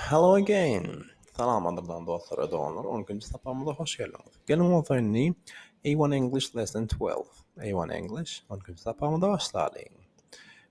Hello again! Salam gadyrdan dostlar we doganlar, on ikinji sapagymyza hoş geldiňiz. Geliň bolsa indi A1 English Lesson 12, A1 English on ikinji sapagymyza başlalyň.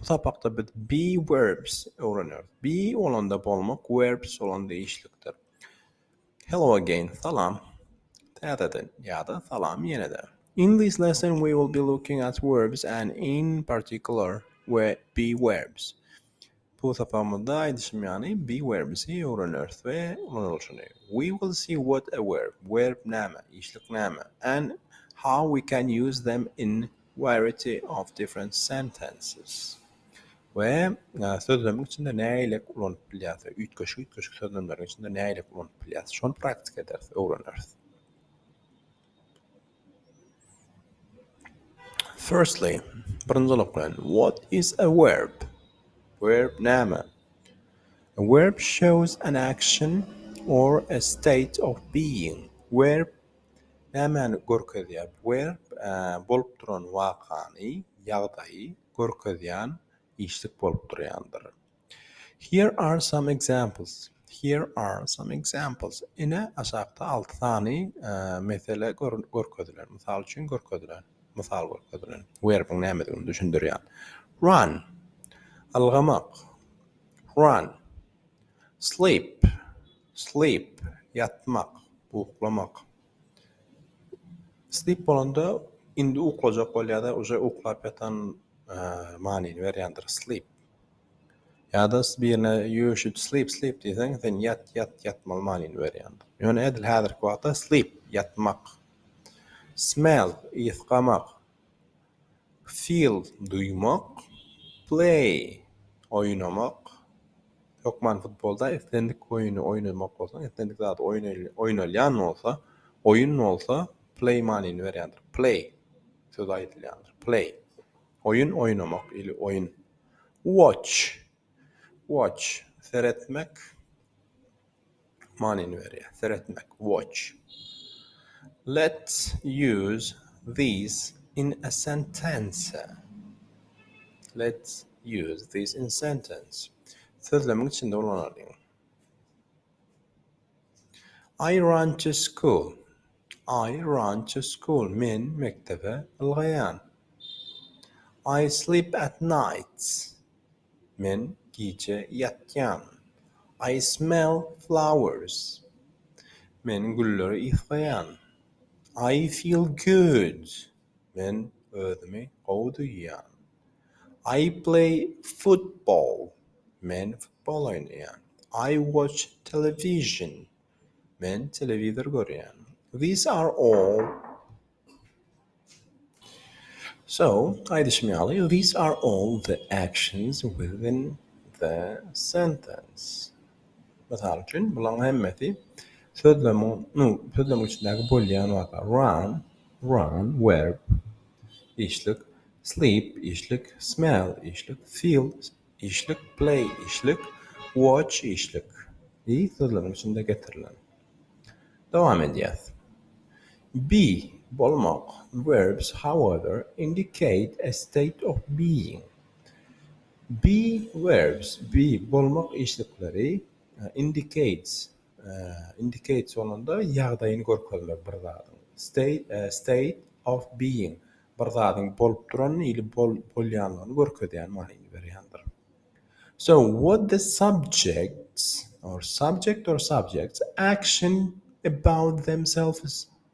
Bu sapakda biz be verbs öwrenýäris. Be bolanda bolmak, verbs bolanda işlikdir. Hello again, salam. Täzeden ýa-da salam ýene-de. In this lesson we will be looking at verbs and in particular we be verbs. Bu sapagymyzda aýdyşym ýaly be werbsi öwreneris we ulanylyşyny we will see what a verb, verb näme, işlik näme, and how we can use them in variety of different sentences we sözlemiň içinde näileik ulanyp bilýäs we üýtgeşik üýtgeşik sözlemleriň içinde näileik ulanyp bilýäs şony praktika ederis, öwreneris. Firstly, birinji zolak bilen, what is a verb? Verb näme? A verb shows an action or a state of being. Verb nämäni görkezýär? Verb bolup duran wakany, ýagdaýy görkezýän işlik bolup durýandyr. Here are some examples Here are some examples Ine, aşakda alty sany mesele görkezilen, mysal üçin görkezilen, mysal görkezilen werbiň nämedigini düşündirýän. Run, ylgamak, run. Sleep, sleep, ýatmak, uklamak. Sleep bolanda indi uklajak bol ýa-da uje uklap ýatan manyny berýändir, sleep. Ýa-da birine you should sleep sleep diýseň, sen ýat ýat ýatmaly manyny berýändir. Ýöne edil häzirki wagtda sleep, ýatmak. Smell, ysgamak. Feel, duýmak. Play, oýnamak. Hökman futbolda islendik oýny oýnamak bolsa, islendik zat oýnalýan bolsa, oýun bolsa play manyny berýändir. Play sözi aýdylýandyr. Play. Oýun oýnamak ili oýun. Watch. Watch. Seretmek. Manyny berýär. Seretmek. Watch. Let's use these in a sentence. Let's use these in sentence. Sözlemiň içinde ulanalyň. I run to school. I run to school. Men mekdebe ylgaýan. I sleep at nights. Men gije ýatýan. I smell flowers. Men gülleri ysgaýan. I feel good. Men özümi gowy duýýan. I play football, men futbol oýnaýan. I watch television, men telewizor görýän. These are all So, aýdyşym ýaly, these are all the actions within the sentence. Mysal üçin, bularyň hemmesi sözlemiň, nu, sözlemiň içindäki bolýan zatlar. Run, run, verb, işlik. sleep, işlik, smell, işlik, feel, işlik, play, işlik, watch, işlik, i sözleriň içinde getirilen. Dowam edýäs. Be, bolmak, verbs, however, indicate a state of being. Be verbs, be, bolmak işlikleri, indicates, Indicate sonunda ýagdaýyny görkezmek bir zadyň. State, state of being, bir zadyň bolup duranyny ili bolýanlygyny görkezýän manyny berýändir. So what the subjects or subject or subjects action about themselves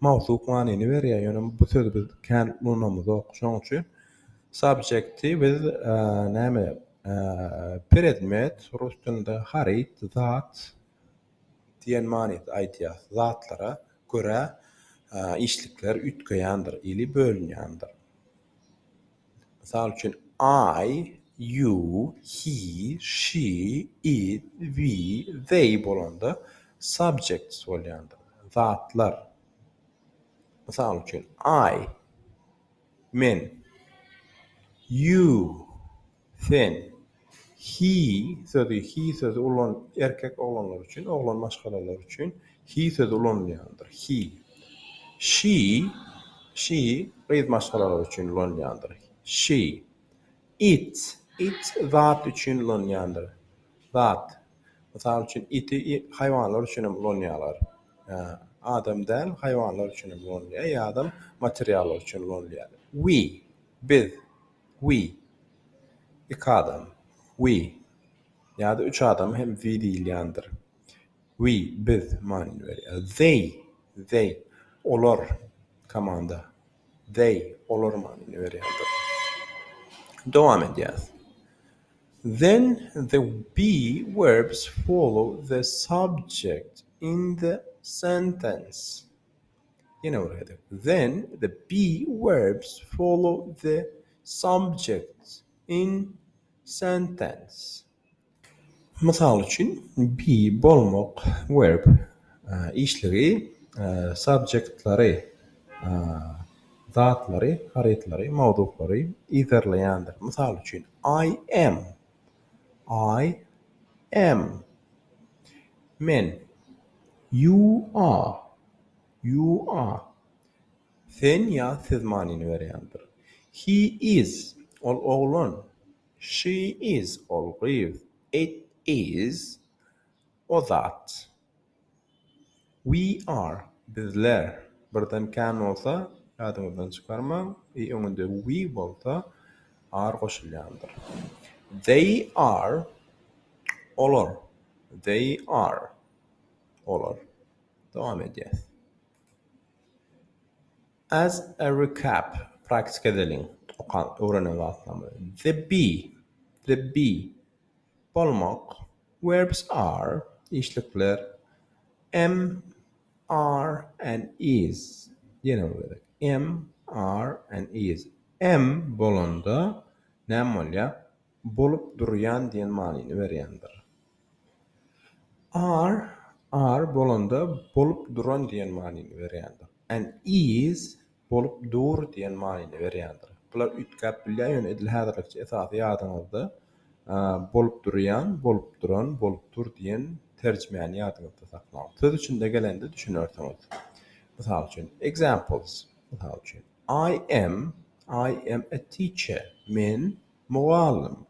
mawsuk manyny berýär, ýöne bu sözi biz kän ulanamyzok. Şonuň üçin subjekti biz näme predmet, rus dilinde haryt, zat diýen manyda aýdýarys. Zatlara görä işlikler üýtgeýändir ili bölünýändir. Mysal üçin, I, you, he, she, it, we, they bolanda subjects bolýandyr. Zatlar. Mysal üçin, I, men, you, sen. He sözi, He sözi ulan erkek oglanlar üçin, oglan maşgalalar üçin he sözi ulanylýandyr. He. She, She gyz maşgalalar üçin ulanylýandyr. She. It, It zat üçin ulanylýandyr. Zat. Mysal üçin, iti haýwanlar üçin hem ulanýarlar. Adam däl, haýwanlar üçin hem ulanylýar ýa-da materiallar üçin ulanylýar. We, biz. We. Iki adam. We. Ýa-da üç adama hem we diýilýändir. We, biz, manyny berýär. They, they, olar, komanda. They, olar manyny berýändir. Dowam edýäs. Then the be verbs follow the subject in the sentence. Then the be verbs follow the subjects in sentence. Mysal üçin, be, bolmak, verb, işligi, subjectleri, zatlary, harytlary, mowzuklary, yzarlaýandyr. Mysal üçin, I am. I am, men, you are, you are, sen ýa siz manyny berýändir. He is, ol oglan, she is, ol gyz, it is, o zat. We are, bizler, birden can bolsa ýadyňyzdan çykarmaň, i öňünde we bolsa are goşulýandyr. They are, olar, they are, olar, dowam edýäs. As a recap, praktika edeliň, okan, öwrenen zatlarymyzy. The bee, the bee, bolmak, verbs are, işlikler, am, are, and is, ýene bir gezek, am, are, and is, am bolanda näme bolýar? Bolup durýan diýen manyny berýändir. Are, are bolanda bolup duran diýen manyny berýändir. And is, bolup dur diýen manyny berýändir. Bular üýtgäp bilýär, ýöne edil häzirlikçe esasy ýadyňyzda bolup durýan, bolup duran, bolup dur diýen terjimäni ýadyňyzda saklaň. Söz içinde gelende düşünersiňiz. Mysal üçin, examples, Mysal üçin, I am, I am a teacher, men mugallym.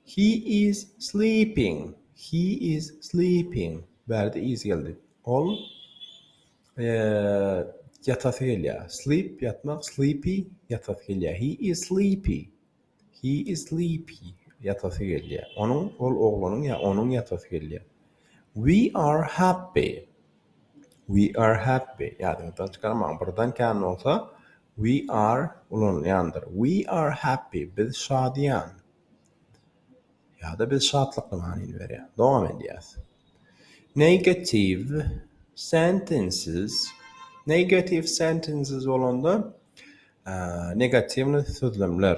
He is sleeping. He is sleeping. Bärde is geldi. Ol ýatasy gelýär. Sleep ýatmak, sleepy ýatasy gelýär. He is sleepy. He is sleepy. Ýatasy gelýär. Onuň ol oglanyň ýa onuň ýatasy gelýär. We are happy. We are happy, ýadyňyzdan çykarmaň, birden kän bolsa we are ulanylýandyr. We are happy, biz şadyýan. Ýa-da biz şatlykly manyny berýär. Dowam edýäs. Negative sentences, negative sentences bolanda, negatiwnyý sözlemler.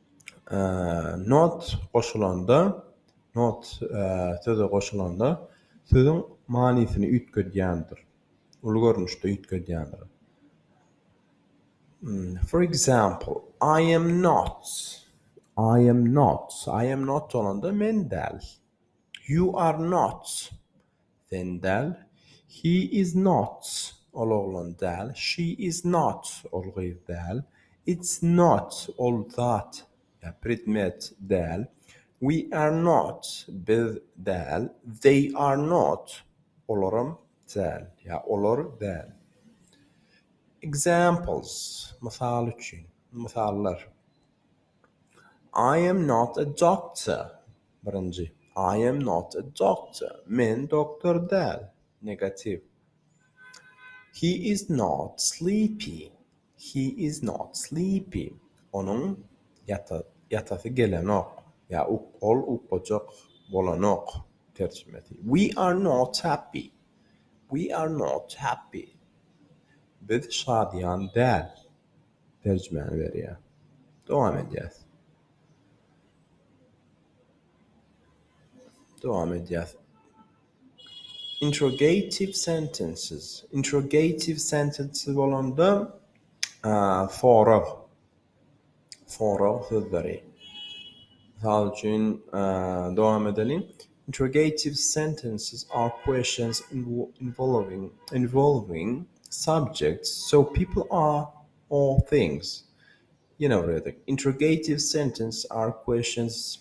Not goşulanda, not söze goşulanda sözüň manysyny üýtgedýändir, uly görnüşde üýtgedýändir. For example, I am not, I am not, I am not bolanda men däl. You are not. Sen däl, He is not, Ol oglan däl, She is not, Ol gyz däl, It's not, Ol zat ýa predmet däl, We are not, Biz däl, They are not, Olaram däl ýa olar däl. Examples, Mysal üçin, mysallar. I am not a doctor, birinji. I am not a doctor, men doktor däl, negatiw. He is not sleepy, he is not sleepy, onuň ýatasy gelenok, ýa ol ukujak bolanok, terjimesi. We are not happy, we are not happy, biz şadyýan däl, terjimäni berýär. Dowam edýäs. Dowam edýäs. Interrogative sentences. Interrogative sentences bolanda sorag. Sorag sözleri. Mysal üçin, dowam edeliň. Interrogative sentences are questions involving subjects so people or things. Ýene bir gezek. Interrogative sentences are questions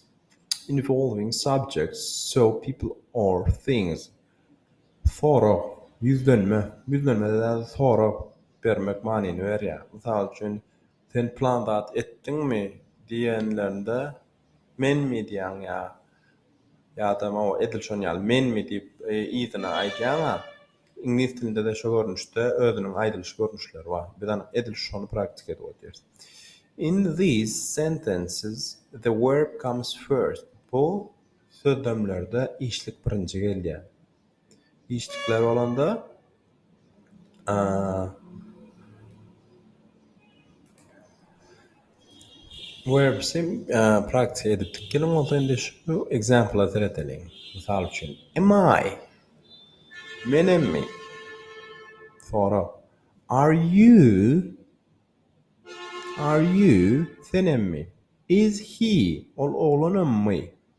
involving subjects so people or things. Sorag, ýüzlenme. Ýüzlenmede däl, sorag bermek manyny berýär. Mysal üçin, Sen plan zat etdiňmi? diýenlerinde. Menmi diýýäň ýa ýa-da mawy edil şon ýaly menmi diýip yzyna aýdýaň-a. Iňlis dilinde-de şo görnüşde özüniň aýdylyş görnüşleri bar. Biz anyk edil şony praktika edip otyrys. In these sentences the verb comes first. Bu sözlemlerde işlik birinji gelýär. Işdikler bolanda, Verbs-i praktiýa edip dik geliň, bolsa indi şu ekzempla seredeliň. Mysal üçin, Am I? Menemmi? Sorag, Are you? Are you? Senemmi? Is he? Ol oglanammy?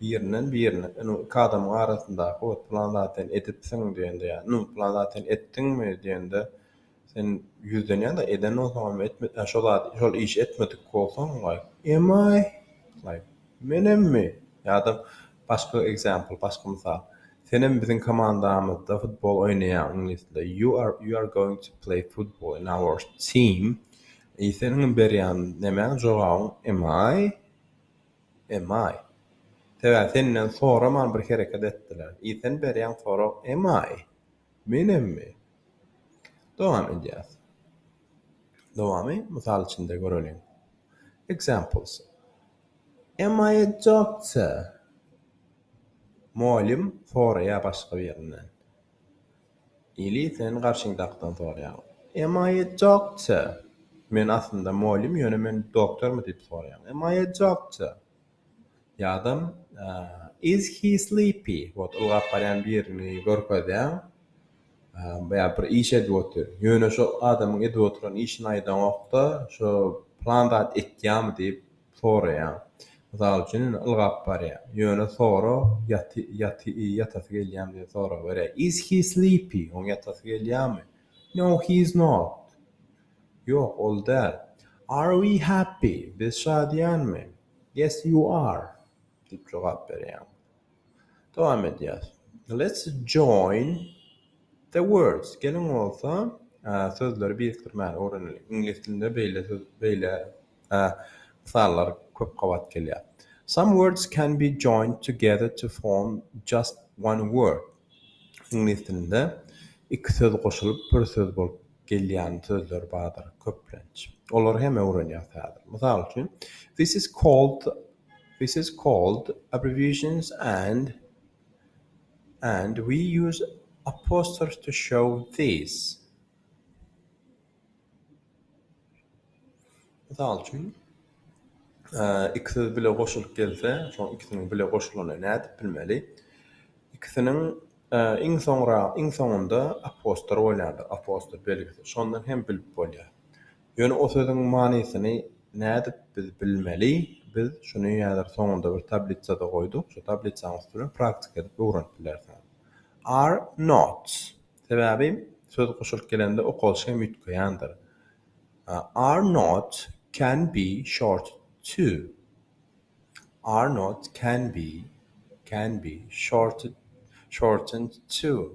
Birinden birine inu iki adamyň arasyndaky ot plan zat sen edipsiň diýende ýa inu plan zat sen etdiňmi diýende sen ýüzden ýa-da eden bolsaňam etmedi ýa şo zat şol işi etmedik bolsaň like emaý like menemmi ýa-da başga example başga mysal senem biziň komandamyzda futbol oýnaýaň iňlis dilinde you are you are going to play football in our team e seniň berýän nämäň jogabyň emaý Emaý. Sebäbi senden soraman bir hereket etdiler. I sen berýän sorag emaý. Menemmi? Dowam edýäs. Dowamy mysal içinde göreliň. Examples, Am I a doctor? Mugallym soraýar başga birinden. Ili sen garşyňdakdan sorýaň. Emma etjokça. Men aslynda molym ýöne men doktormy diýip sorýaň. Emma etjokça. Ýadam is he sleepy wot ylgap barýan birini görkezýäň. Ýa bir iş edip otyr. Ýöne şo adamyň edip oturan işini aýdaňokda şo plan zat etýamy diýip soraýaň. Mysal üçin, indi ylgap barýaň. Ýöne sora, ýaty, ýaty, ýatasy gelýämi diýip soraberýär. Is he sleepy? Oň ýatasy gelýärmi? No, he is not. Ýok, ol däl. Are we happy? Biz şadyýanmy? Yes, you are. Diýip jogap berýäň. Dowam edýäs. Let's join the words. Geliň bolsa, sözleri birikdirmäni öwreneliň. Iňlis dilinde beýle söz, beýle mysallar köp gabat gelýär. Some words can be joined together to form just one word. Iňlis dilinde iki söz goşulyp bir söz bolup gelýän sözler bardyr köplenç. Olary hem öwrenýäs häzir. Mysal üçin, This is called This is called abbreviations and and we use apostrophes to show these. Mysal üçin, iki söz bile goşulyp gelse, şoň ikisiniň bile goşulanyny nädip bilmeli? Ikisiniň iň soňra, iň soňunda apostrof bolýandyr, apostrof belgisi. Şondan hem bilip bolýar. Ýöne o sözüň manysyny nädip biz bilmeli? Biz şuny häzir soňunda bir tablitsada goýduk, şu tablitsanyň üstüne praktika edip öwrenip bilersiňiz. Are not. Sebäbi söz goşulyp gelende okalyş hem üýtgeýändir. Are not can be short to. Are not can be can be shorted shortened to.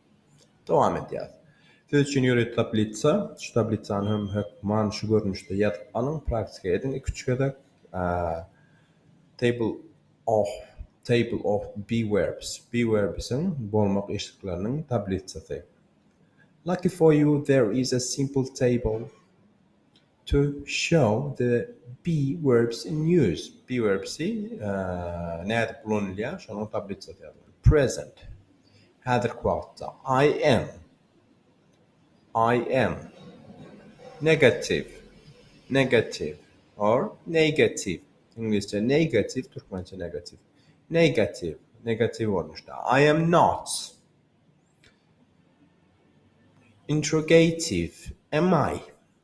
Dowam edýäris. Siz üçin ýörite tablisa. Şu tablissany hem hökman şu görnüşde ýazyp alyň, praktika ediň iki-üç gezek. Table of Table of be verbs. Be verbsiň, bolmak eşikleriniň, tablisasy. Lucky for you, there is a simple table. To show the be verbs in use, be verbsi nädip ulanylýar, şonuň tablisasy ýazylýar. Present, häzirki wagtda. I am, I am. Negativ, negativ, or neýgativ, iňlisçe negative, türkmençe negativ. Neýgativ, negativ görnüşde. I am not. Interrogativ, am I?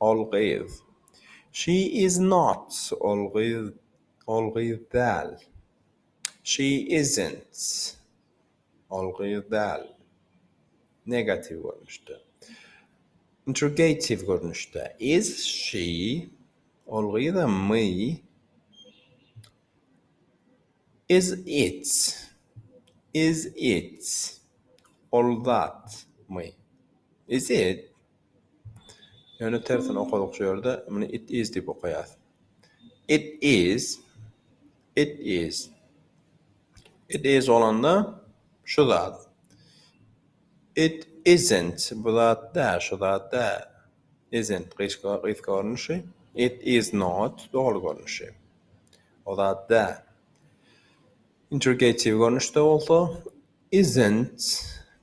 Ol gyz. She is not Ol gyz Ol gyz däl. She isn't Ol gyz däl. Negatiw görnüşde. Interrogatiw görnüşde. Is she Ol gyzmy? Is it Is it Ol zatmy? Is it Ýöne tersini okadyk şu ýerde. Muny it is diýip okaýas. It is. It is. It is bolanda şu zat. It isn't. Bu zat däl, şu zat däl. Isn't gysga gysga görnüşi. It is not doly görnüşi. O zat däl. Interrogatiw görnüşde bolsa isn't.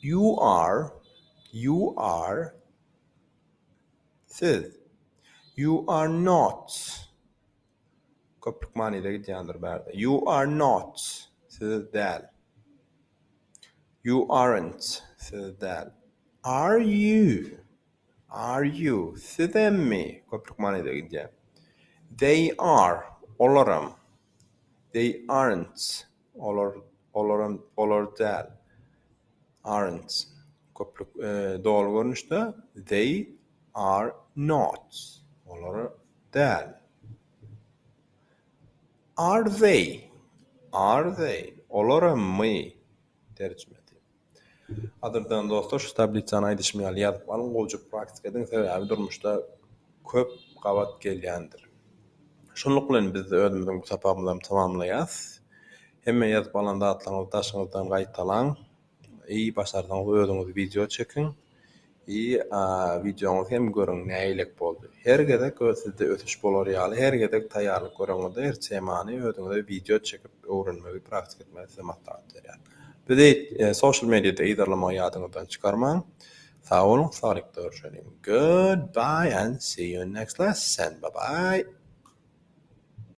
You are, you are, siz. You are not, köplük manyda gidýändir bärde. You are not, siz däl. You aren't, siz däl. Are you, are you, siz emmi, köplük manyda gidýär. They are, olaram. They aren't, Olar, olaram, olar däl. Aren't, köplük, doly görnüşde, They are not, olar däl. Are they, are they, olaramy? Terjimesi. Gadyrdan dostlar şu tablisany aýdyşym ýaly ýazyp alyň gowjyk praktika ediň sebäbi durmuşda köp gabat gelýändir. Şunluk bilen biz özümiziň bu sapagymyzam tamamlaýas. Hemme ýazyp alan zatlaryňyzy daşyňyzdan gaýtalaň. Eý başarsaňyz özüňiz wideo çekiň. Ýy a wideoňyzy hem görüň näilek boldy. Her gezek öz sizde ösüş bolar ýaly her gezek taýýarlyk göreňizde her temany özüňize wideo çekip öwrenmegi praktik etmegi size maslahat berýän. Bizi social mediada yzarlamagy ýadyňyzdan çykarmaň. Sag boluň saglyk görüşeliň goodbye and see you next lesson bye bye.